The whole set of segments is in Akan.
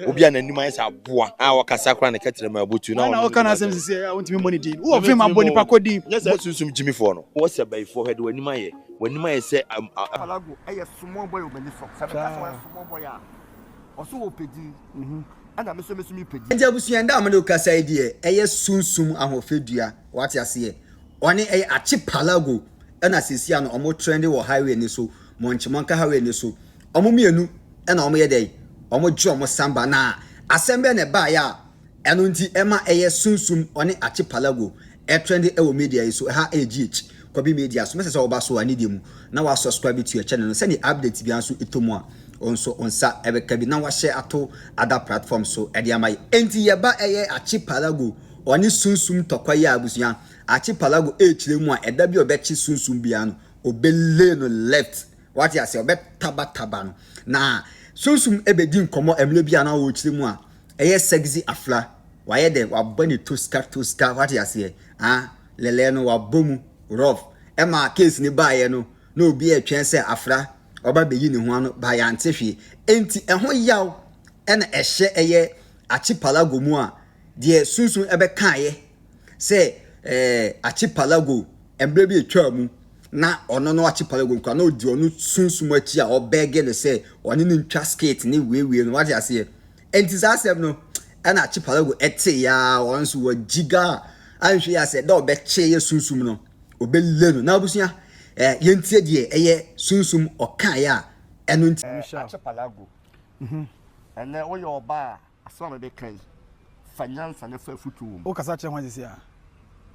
obi a n'anim ayɛ sɛ aboa a ɔkasa koraa ne kɛtrɛ ma abutu na ɔno ɔka n'asɛm sisi a wontumi mmɔ ne din wowɔ fem abɔ nipa kɔ din nyɛ sɛ sunsum gyimifoɔ no wɔ sɛ bayifoɔ hwɛ de w'anim ayɛ w'anim ayɛ sɛ Palago yɛ small boy wɔ m'ani so sɛ meka sɛ wɔyɛ small boy a ɔso wɔ pɛ din ɛna me so me so me pɛ din. Nti abusua nda a mode rekasa yi deɛ ɛyɛ sunsum ahoɔfɛ dua wate aseɛ ɔne ɛyɛ akye Palago ɛna sɛsi ano ɔmo trɛnde wɔ highway no so monkye monka highway no so wɔn mmienu na wɔyɛ dɛn? Wɔgye wɔn san ba. Na asɛm bɛn na ɛbaeɛ a ɛno nti ɛma ɛyɛ sunsum ɔne archipelago ɛtrendi ɛwɔ media yi so? Ɛha ɛyɛ GH Kwabi Media so. Mɛsɛ sɛ woba so a ne deɛ mu na wa subscribe to yɛ channel no sɛdeɛ update biara nso ɛtɔ mu a wo nso wo nsa ɛbɛka bi na wahyɛ ato other platform so ɛde ama yɛ. Enti yɛba ɛyɛ archipelago ɔne sunsum ntɔkwa yi a abusua, archipelago ɛrekyerɛ mu a ɛda bi a ɔbɛkye sunsum biara no ɔbɛ lay no left Wate aseɛ? Ɔbɛtabataba no. Na Sunsum bɛdi nkɔmmɔ mmerɛ bi a na ɔrekyerɛ mu a, ɛyɛ sɛgzi afra. Wayɛ dɛ, wabɔ ne toska toska, wate aseɛ? Ah, lɛlɛɛ no, wabɔ mu rough. Ɛma case no baeɛ no, na obi retwɛn sɛ afra ɔba abɛyi ne ho ano, but yɛante hwee. Enti ɛho yaw na ɛhyɛ ɛyɛ Archipelago mu a, deɛ Sunsum bɛkaeɛ sɛ ɛɛ Archipelago mmerɛ bi a ɛtwaa mu na ɔno no Archipelago kura na ɔdi ɔno sunsum akyi a ɔbɛɛge no sɛ ɔne no ntwa skate ne wiewie no wate aseɛ ɛnti saa asɛm no ɛna Archipelago ɛte yaa ɔno nso wɔgyi ga a anhwɛ yi asɛ dɛ ɔbɛkye yɛ sunsum no ɔbɛle no na abusua ɛɛ yɛntie deɛ ɛyɛ sunsum ɔkaeɛ a ɛno nti. Michelle. Archipelago. Mhm. Ɛnɛ woyɛ ɔbaa a. Asɛm a mebɛka yi, fa nyansa na fa afotu wom. Wokasa kyerɛ hwan seesei a?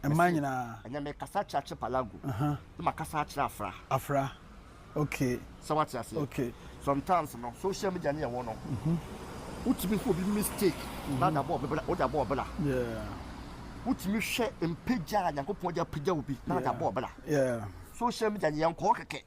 Mmaa Mese, nyinaa? Ɛnnɛ mekasa akyerɛ Archipelago, Aha. na makasa akyerɛ Afra. Afra, okay. Sɛ woate aseɛ? Okay. Sometimes no, social media no yɛ nwono. Wotumi hu obi mistake na wode abɔ ɔbra, wode abɔ ɔbra. Yeah. Wotumi hwɛ mpagya a Nyankopɔn de apagya obi na wode Yeah. abɔ ɔbra. Yeah. Social media no, yɛnkɔ hɔ kɛkɛ.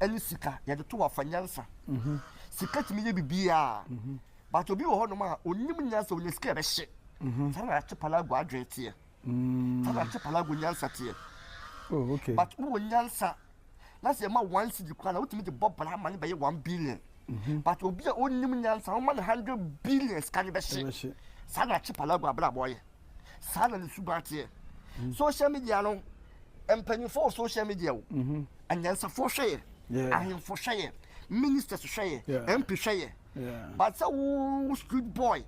ɛne sika yɛde to wafa nyansa mhm. sika tumi yɛ biribiaa mhm. but obi wɔ hɔnom a ɔnim nyansa ɔnya sika ɛbɛhye mhm. saa na akye palago adwene teɛ mm. saa na akye palago nyansa teɛ oh, but wowɔ nyansa na sɛ ɛma one city koraa na wotumi de bɔ bra ma ne bɛyɛ one billion but obi a ɔnim nyansa woma no hundred billion sika ne bɛhye saa na akye palago abrabɔ yɛ saa na ne suban teɛ mm. social media no mpanyinfoɔ wɔ social media o mm-hmm. anyansafoɔ hwɛ yɛ ahemfo hwɛ yɛ ministers hwɛ yɛ mp hwɛ yɛ but sɛ wo street boy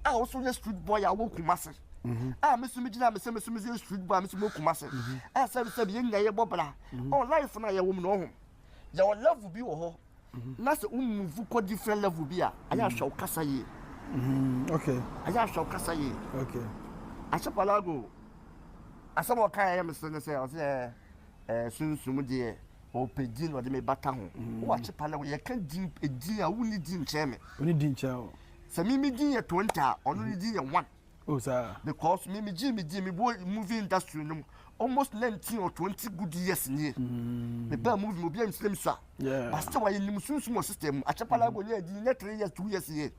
a woso yɛ street boy a wɔ kuma se mm-hmm. a mesu me gyina me sɛ mesu me sɛ street boy a mesu me kuma se mm-hmm. a sɛ sɛ yɛn nyinaa yɛ bɔ bra ɔ life no a yɛwɔ mu na ɔho yɛwɔ level bi wɔ hɔ Na sɛ wo move kɔ different level bi a, ɛyɛ ahwɛ wo kasa yie. Mm, okay. Ɛyɛ ahwɛ wo kasa yie. Okay. Ahyɛ palago. Asɛm a ɔka ɛyɛ me sɛ ne sɛ ɔsɛ ɛɛ eh, eh, sunsum deɛ ɔpɛ din ɔde me bata ho. Mm. Wo ahyɛ palago yɛka din edin a wonni din nkyɛn me. Wonni din nkyɛn o. Sɛ mimi din yɛ twenty a ɔno ne din yɛ one. Oh, sir. Because me, me Jimmy, Jimmy, boy, movie industry, no, almost 19 or 20 good years in here. Mm. The bad movie, be in slim, sir. Yeah. But still, I in the soon small system. I check Palago, yeah, the next three years, two years here.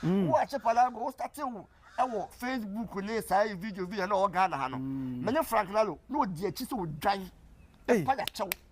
Mm. Oh, I check Palago, start you. ɛwɔ facebook ne saa video video na ɔwɔ ghana ha no mene frank lalo na ɔdi akyi sɛ ɔdwan ɛpa yakyɛw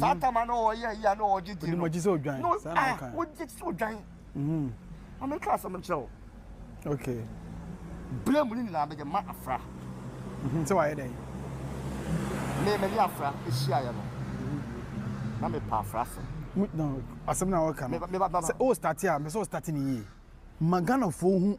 saa mhm. tama na ɔyɛ ayi a na ɔgye di no ɔgye sɛ odwan no ah ɔgye sɛ odwan mhm. maame ka asɛm kyerɛ wo okay bere mu ne nyinaa mede ma afra mhm, sɛ wayɛ dɛn me mene afra ɛhyiaeɛ no na mepa afra so asɛm na wɔka no sɛ o starte a mesɛ o starte ne yie ma ghanafoɔ hu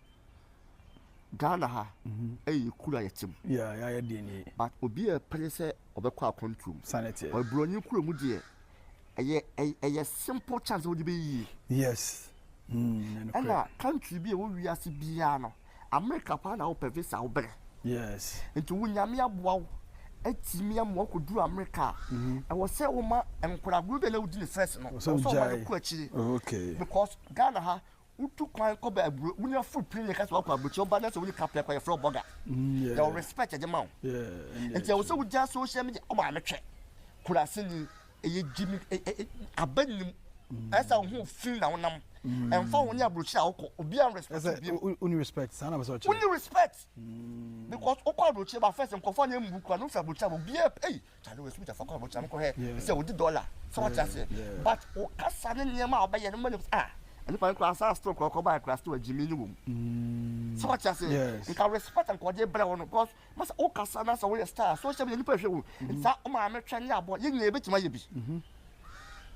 Ghana ha ɛyɛ yɛ kuro a yɛte mu. Yeah, yeah, yeah, deɛ nie. But obi a ɛpere sɛ ɔbɛkɔ akwantuo mu. Sane teɛ. Ɔyɛ buroni kuro mu deɛ ɛyɛ ɛyɛ simple chance wode bɛyɛ yie. Yes. Mm, ɛna country bi a ɛwɔ wiase biara no America paa na wopɛ visa wobrɛ. Yes. Nti wo nyame aboa wo atumi ama wakɔduru America a mm-hmm. ɛwɔ sɛ woma nkoragoro bi a na wodi ne first no ɔsɛ ɔma no kɔ akyiri. Okay. Because Ghana ha Wotu kwan kɔ baabi wo nya full pin yɛ kasa wakɔ abrokyɛ ɔba na sɛ woni kapɛ kɔ yɛ frɛ ɔbɔga. Mm, yɛ respect ɛde ma wo. Nti ɛwɔ sɛ wogya social media ɔma ame twɛ. Kurase ni ɛyɛ gyimi aba nim ɛsɛ wo ho fi na wonam. Ɛmfa wo ne abrokyɛ a wokɔ obi an respect wo bi. Ɛsɛ woni respect saa na bɛsɛ ɔkyɛ. Woni respect because wokɔ abrokyɛ ba first nkɔfɔ na ɛmbu kura no fi abrokyɛ a obi a ei Charlie wɔ sukuu tafa kɔ abotire mo kɔ hɛ sɛ odi dɔla sɛ wɔte aseɛ but o kasa ne nneɛma a ɔbɛyɛ no mo nim ah nipa no kura saa still kɔ kɔ baa kura still agyimi ne wɔm sɛ wɔte aseɛ nka respect nka ɔde brɛ wɔn because masa o kasa na sɛ wɔyɛ star social media nipa hwɛ wo nsa o maame twɛ ne abɔ yɛ nyinaa ebetuma yɛ bi.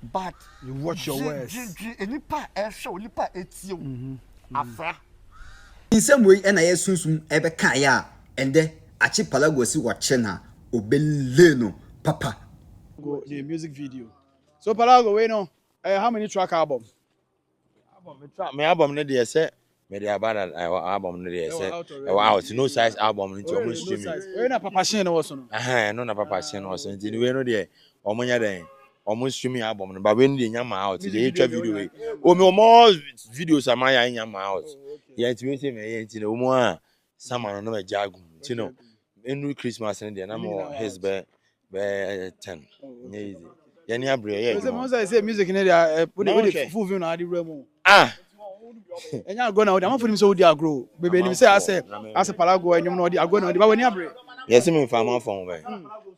but dwedwe nnipa a ɛrehwɛ wo, nnipa a ɛretie wo, afra. Nsɛm wei na yɛ sunsum ɛbɛ ka yɛ a ɛndɛ akye palagua si wɔ kyɛ na ɔbɛ lay no papa. Go the music video so palago wei no ɛyɛ how many track album Album me tra me album no deɛ sɛ mede aba na ɛwɔ eh, album no deɛ sɛ ɛwɔ out no size album no nti ɔmo stream wei na papa hyɛn no wɔ so no ɛhɛn no na papa hyɛn no wɔ so nti ne wei no deɛ ɔmo nyɛ dɛn ɔmo stream album no ba wei no deɛ nya ma out deɛ etwa video wei omi ɔmo videos ama yɛ anya ma out yɛ nti wei sɛ mɛ yɛ nti na ɔmo a sama no na ɛgya agum nti no ɛnu christmas no deɛ na mo his bɛ bɛyɛ ten nyɛ easy yɛn abiri ɛyɛ ɛdwuma. ɛsɛ mo sɛ sɛ music ne de ɛ o de o de fufu fi na adi wura mu. ah ɛnyɛ agorɔ na o de amafo nim sɛ o di agorɔ bebe nim sɛ asɛ asɛ palago ɛnyom na o di agorɔ na o de ba wɔ ni abiri. yɛsi mi nfa ama fɔn bɛ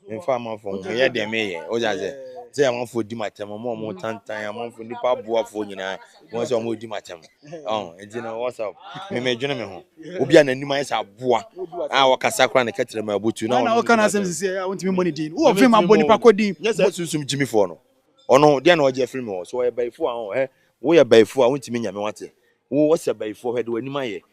mi nfa ama fɔn mi yɛ deɛ mi yɛ o de asɛ sɛ amafo di ma tɛm ɔmo ɔmo tantan amafo nipa aboafo nyinaa. wɔn sɛ wɔn di ma kyɛm ɔn nti na wɔn sɛ mɛmɛ dwene mi ho obi a n'anim ayɛ sɛ aboa a wɔkasa kora ne kɛtɛrɛ mu abutu na wɔn ɔka na asɛm sisi a wɔn ti mi bɔ ne din wɔn fi ma bɔ nipa kɔ din nyɛ sɛ sunsun gyimi fɔ no ɔno deɛ na ɔgye afiri mi wɔ so ɔyɛ bɛyifo a ɔn ɛ woyɛ bɛyifo a wɔn ti mi nyame wate wo wɔsɛ bɛyifo hɛ de wɔn anim ayɛ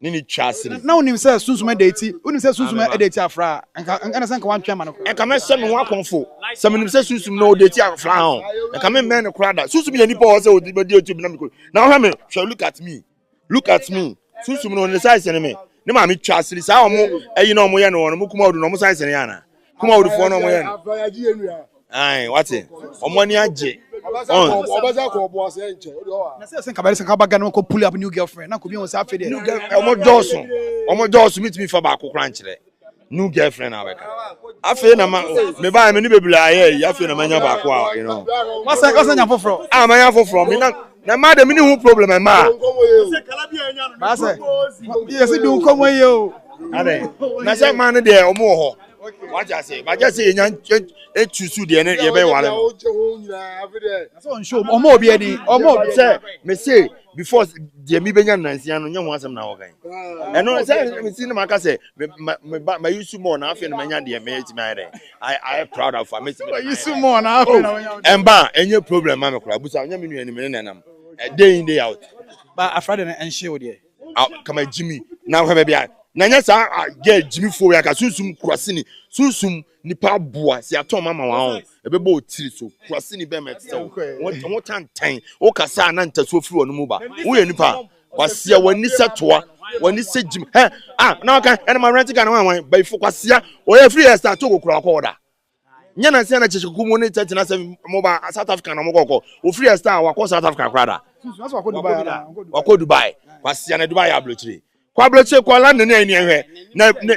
ne ne twa ase no. Na wonim sɛ sunsum ɛda eti, wonim sɛ sunsum ɛda eti afra a, nka ɛne sɛ nka wantwɛn ma no koraa. Nka mɛhyɛ me ho akɔmfo sɛ menim sɛ sunsum na ɔda eti afra ho, nka memmɛn no koraa da. Sunsum yɛ nipa ɔwɔ sɛ ɔdi bɛdi eti na mekɔ. Na ɔhwɛ me, hwɛ, look at me, look at me. Sunsum no ne size ne me, ne maame twa ase saa ɔmo ɛyi na ɔmo yɛ no wɔn, ɔmo kuma ɔdu na ɔmo size ne yɛ ana? kum awudifoɔ no ɔmo yɛ no ayi wate ɔmo ani agye ɔn. ɔbɛsɛ kɔ ɔbo ase nkyɛn o de ɔwa. na sɛ sɛ nka bɛrɛ sɛ nka ba gana kɔ pull up new girlfriend na kobi wɔn sɛ afei deɛ. new girl ɔmo dɔɔso ɔmo dɔɔso mi tumi fa baako kora nkyerɛ new girlfriend na abɛka afei na ma me ba mi ni bebree ayɛ yi afei na ma nya baako a you know. wasɛ wasɛ nya foforɔ. a ma nya foforɔ mi na. na mmaa de mini ho problem mmaa. baasɛ yɛsi di nkɔmɔ yie o. adɛ na sɛ mmaa no deɛ ɔmo wɔ hɔ wagye ase bagye ase yɛnya etusu deɛ ne yɛ bɛyɛ wale no. ɔmo obi ani ɔmo obi sɛ mese before deɛ mi bɛnya nansia no nyɛ ho asɛm na ɔkan ɛno sɛ mesi ne ma ka sɛ ma ma ma yi su mɔɔ na afei na ma nya deɛ mɛ etimi ayɛ dɛ I I proud of am. Mesi mi su mu ɔna afei na wɔnyɛ ɔna. Ɛnba ɛnyɛ problem ma mi kura busa ɔnyɛ mi nua ni mi ne na ɛnam day in day out. Ba afra de na ɛnhyɛ o deɛ. Kama Jimmy na ahwɛ baabi a na nyɛ saa ah, gɛ Jimmy fo ya ka sunsum kurasini sunsum nipa aboa si atɔn mama wɔn ahɔn ɛbɛbɔ otiri so kurasini bɛn mɛ ti sɛ o wɔn wɔn tantan o kasa na ntasuo firi wɔn mu ba o yɛ nipa Kwasia w'ani sɛ toa w'ani sɛ gyim hɛ a na ɔka ɛna ma rent Ghana wan wan bayifo kwasia ɔyɛ free yɛ star togo kura ɔkɔ ɔda nyɛ na sɛ na kyekye kuku mu ne tɛ tena sɛ mo ba South Africa na mo kɔkɔ ofiri yɛ star wakɔ South Africa kura da wakɔ Dubai kwasia na Dubai yɛ abulokyire kɔ abulokyire kɔ London ne ɛni ɛhwɛ na ne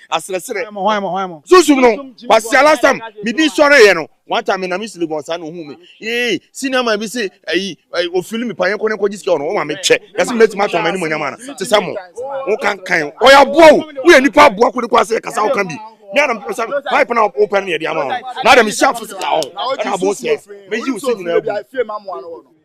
aserɛserɛ sunsum no kwasiala sam me din sɔre yɛ no one time me na me sili bɔn saa na ohun me ee senior man bi se ayi ofili me panyɛ kɔnɛ kɔgye sika ɔno ɔma me kyɛ yɛsɛ me bɛtumi atɔn ma anim onyam ana te sɛ mo wo kankan ɔyɛ aboa wo woyɛ nipa aboa kode kɔ ase yɛ kasa woka bi me ana mepɛ sɛ pipe na wopɛ no yɛde ama wo na adam hyɛ afo sika ɔn ɛna abo sɛ meyi wo sɛ nyinaa bu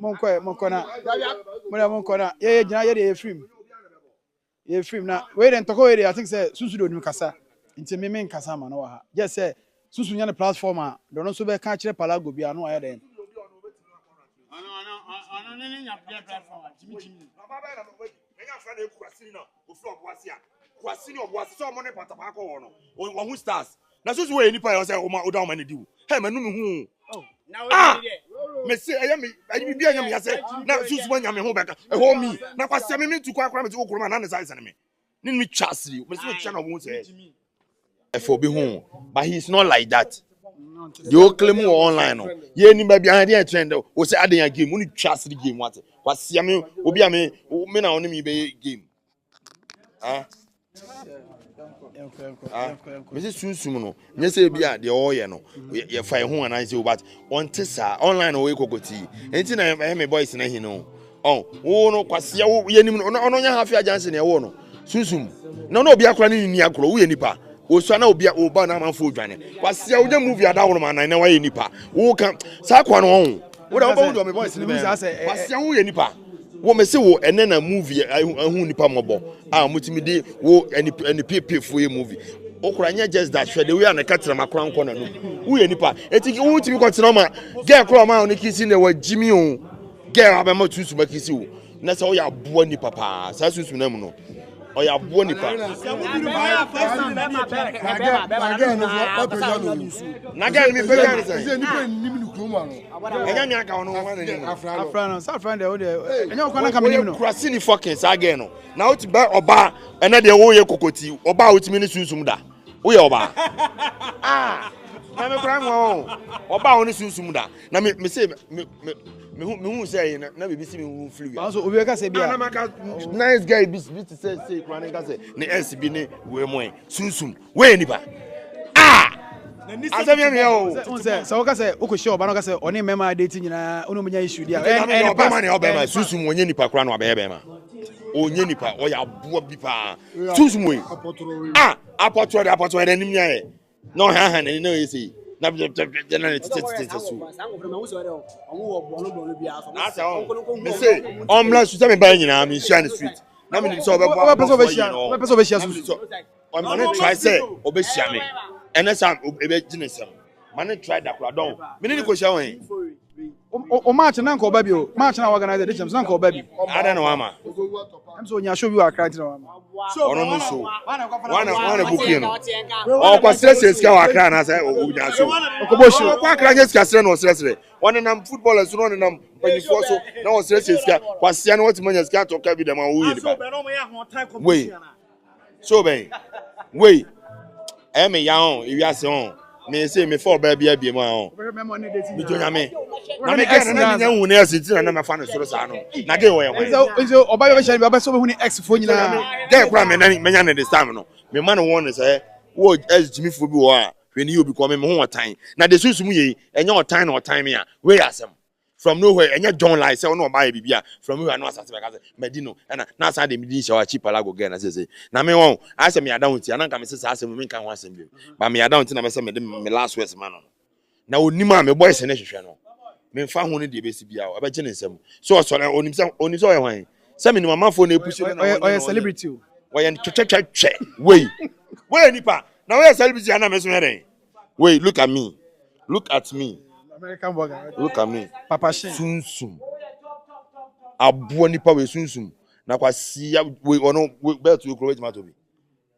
monkɔ ɛ monkɔ na mo deɛ monkɔ na yɛyɛ gyina yɛ deɛ yɛfiri mu yɛfiri mu na wei deɛ ntɔkɔ wei deɛ i think sɛ susu deɛ onim kasa nti me menkasa ma no wɔ ha gyɛ sɛ susu nya ne platform a deɛ ɔno nso bɛka akyerɛ palago bi ano ayɛ dɛn Menya afra na eku kwasini na ofiri ɔbo ase a kwasini ɔbo ase sɛ ɔmo ne patapaa kɔ hɔ no wahu stars na soso wɔyɛ nipa yɛ ɔsɛ ɔma ɔda ɔma ne diw hɛ mɛ nunu hu ah mɛ se ɛyɛ mi ɛyɛ mi bi ɛyɛ mi yasɛ na soso wɔnya mi ho bɛka ɛhɔ mi na kwasɛ mi mi tu kɔ akora mi ti okoro ma na ne sa ɛsɛn mi ne mi twa asiri mɛ se mi twa na ɔmo sɛ. ɛfɛ obi ho but he is not like that deɛ ɔkele mu wɔ online no yɛ ni baabi ahadi ɛkyɛn dɛ o sɛ adan ya game wone twa asiri game wate wasia me obi a me me na ɔne me bɛyɛ game ah ah mese sunsum no nyɛ sɛ ebi a deɛ ɔyɛ no yɛfa ɛho anaa sɛ o but ɔnte saa online na ɔyɛ kɔkɔtii nti na ɛyɛ me boys na hin no Ɔn woo no kwasia wo yɛ nim no na ɔno nyɛ hafi agyanse na ɛwoo no sunsum na ɔno obi akora ne nini akorɔ woyɛ nipa osua na obi wo ba na amanfo odwane kwasia wonya movie adaworo ma nan na wayɛ nipa wo ka saa kwa no ɔn wo da wobɛwo deɛ me voice ne bɛn kwasia woyɛ nipa wo mese wo ɛnɛ na movie ahu nipa mɔbɔ a mutumi de wo ɛne pepefo yɛ movie okura nyɛ just that hwɛ de wo yɛ na ka tena makora nkɔ na no woyɛ nipa eti wotumi kɔ tena ma gɛ kora ma wo ne kisi na wɔ gyimi o Girl abɛma sunsum akisi wo na sɛ ɔyɛ aboa nipa paa saa sunsum na mu no ɔyɛ aboa nipa. Na girl mi pɛgya ne sɛn. Ɛnyɛ mi aka ɔno ɔma n'anim. Afra no sa afra no deɛ wo deɛ ɛnyɛ ɔkwa na ka m'anim no. Kurasi ni fucking saa girl no na wote bɛ ɔbaa ɛnɛ deɛ woyɛ kokoti ɔbaa wotumi ne sunsum da woyɛ ɔbaa. Ah na me kura nwa o ɔbaa wo ne sunsum da. na me me se me me me hu me hu sɛ ɛyɛ na biribi si me hu firi wia. nanso obi ka sɛ bi a na maka nice guy bi bi te sɛ sɛ kura ne ka sɛ ne ɛs bi ne wei mu ɛ sunsun wei nipa aa asɛm yɛ mea o. sɛ sɛ woka sɛ wokɔhyia ɔba no ka sɛ ɔne mmɛma ade ti nyinaa wone ɔmɛnya issue di a ɔbɛma ne ɔbɛma sunsum ɔnyɛ nipa kora no abɛyɛ bɛma ɔnyɛ nipa ɔyɛ aboa bi paa sunsum wei a apɔtoɔ de apɔtoɔ yɛ dɛ nim nyɛ Na ɔhanhan n'ani na ɔyɛ sei na bdɛbdɛbdɛ na ne tete tete tete so. N'asɛ ɔn me se ɔmmra su sɛ me baa nyinaa me nhyia ne street na me nim sɛ ɔbɛbɔ ɔbɛpɛ sɛ ɔbɛhyia no ɔbɛpɛ sɛ ɔbɛhyia so ɔma ne try sɛ ɔbɛhyia me ɛnɛ sɛ ɛbɛgye ne nsɛm ma ne try dakora dɔn me ne ne kɔhyia wɔn he. O o match na nka ɔba bi o match na organize de champs na nka ɔba bi. Ada na wama. Ɛm sɛ onya show bi wɔ akra nti na wama. Ɔno no so wana wana bukie no ɔkɔ srɛsrɛ sika wɔ akra na sɛ onya so ɔkɔbɔ show ɔkɔ akra nyɛ sika srɛ na ɔsrɛsrɛ ɔnenam football so na ɔnenam mpanyinfoɔ so na ɔsrɛsrɛ sika kwasia na wɔtumi anya sika atɔ ka bi dɛm a wɔyɛ nipa wei. So bɛn? Wei ɛyɛ me ya ɔn ewiase ɔn me se me fa ɔbaa bi abie mu a ɔn me jo nyame na me gɛ na me nya hu ne ɛsi ti na na me fa ne soro saa no na gɛ wɔ yɛ hwan nso ɔbaa bi bɛhyɛ ne bi ɔbɛsɛ ɔbɛhu ne ex fo nyinaa gɛ kora me na me nya ne this time no me ma ne wɔn ne sɛ wɔ ɛs gyimi fo bi wɔ a hwɛ ne yi obi kɔ me me ho ɔtan na de sunsum yei ɛnyɛ ɔtan na ɔtan me a wei yɛ asɛm from nowhere ɛnyɛ john lai sɛ ɔno ɔba yɛ biribi a from nowhere ano asase bɛka sɛ madi no ɛna na asan de me din hyɛ hɔ akyi palago girl na sese na me wɔn ayɛ sɛ meyɛ down ti ananka me sɛ saa asɛm no menka ho asɛm bi ba meyɛ down ti na mɛsɛ mede me last words ma no no na onim a me boys ne hwehwɛ no memfa ho no deɛ ɛbɛsi biara ɔbɛgye ne nsam so ɔsɔre onim sɛ onim sɛ ɔyɛ hwan sɛ menim amanfoɔ na ɛpusi no na ɔyɛ ɔyɛ celebrity o ɔyɛ twɛtwɛtwɛ wei woyɛ nipa na woyɛ celebrity ana me so yɛ dɛn Wait, look at me. Look at me. American burger. Look at me. Papa Shin. Sunsum. Aboa nipa we sunsum. Na kwa siya we ono belt we kuro wetima to bi.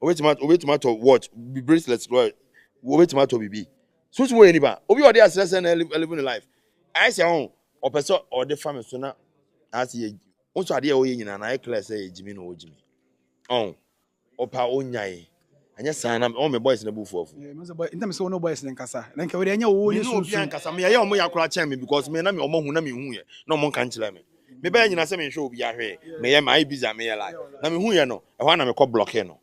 Obetima obetima to watch bi bracelets kuro. Obetima to bi bi. Sunsum we nipa. Obi odi asrese na living life. I say on opese odi fame so na asi ye. Unso ade a oye nyina na e clear say ye jimi no o jimi. On. Ɔpɛ a ɔnyae. Anyɛ saa na ɔma me boys no abufuo afu. Yeah, mese boy, ntam sɛ wo ne boys no nkasa. Na nka wei deɛ ɛnyɛ wo, wo ne sunsun. Me ne obi ankasa, me yɛyɛ ɔmo ya koraa kyɛn me because me na me ɔmo hu na me hu yɛ na ɔmo nka nkyerɛ me. Me bɛyɛ nyina sɛ me nhwɛ obi ahwɛ yɛ, me yɛ mayɛ busy a me yɛ like. Na me hu yɛ no, ɛhɔ a na me kɔ blocking no.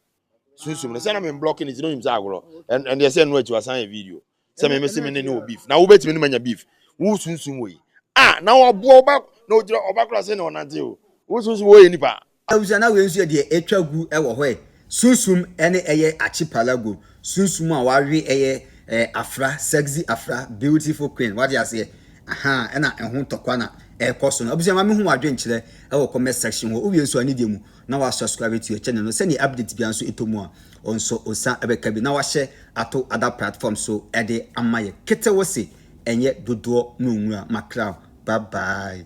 Sunsum no, sɛ na me blocking no nti na onim sɛ agorɔ, ɛn, ɛndeɛ sɛ ɛno akyi wasan yɛ video. sɛ meme se me ne ne wɔ beef na wobɛtumi ne manya beef wo sunsum wɔ yi a na wɔboa wo ba na ɔgyina ɔba kora se na ɔnante o wo sunsum wɔ yɛ nipa awusua na wei nso yɛ deɛ atwa gu wɔ hɔ ɛ sunsum ɛne ɛyɛ archipelago sunsum a wawe ɛyɛ ɛ afra sexy afra beautiful queen wate aseɛ aha ɛna ɛho ntɔkwa na ɛkɔ so no abusua ma mehu wadwenkyerɛ ɛwɔ comment section hɔ wowie nso a ne deɛ mu na ɔasoa sukar etu kyɛ no no, sɛ nnyɛ update biara so etɔ mu a, nso osian bɛka bi na ɔahyɛ ato other platform so de ama yɛ. Ketsew se ɛnyɛ dodoɔ na onwura, Macram, bye bye.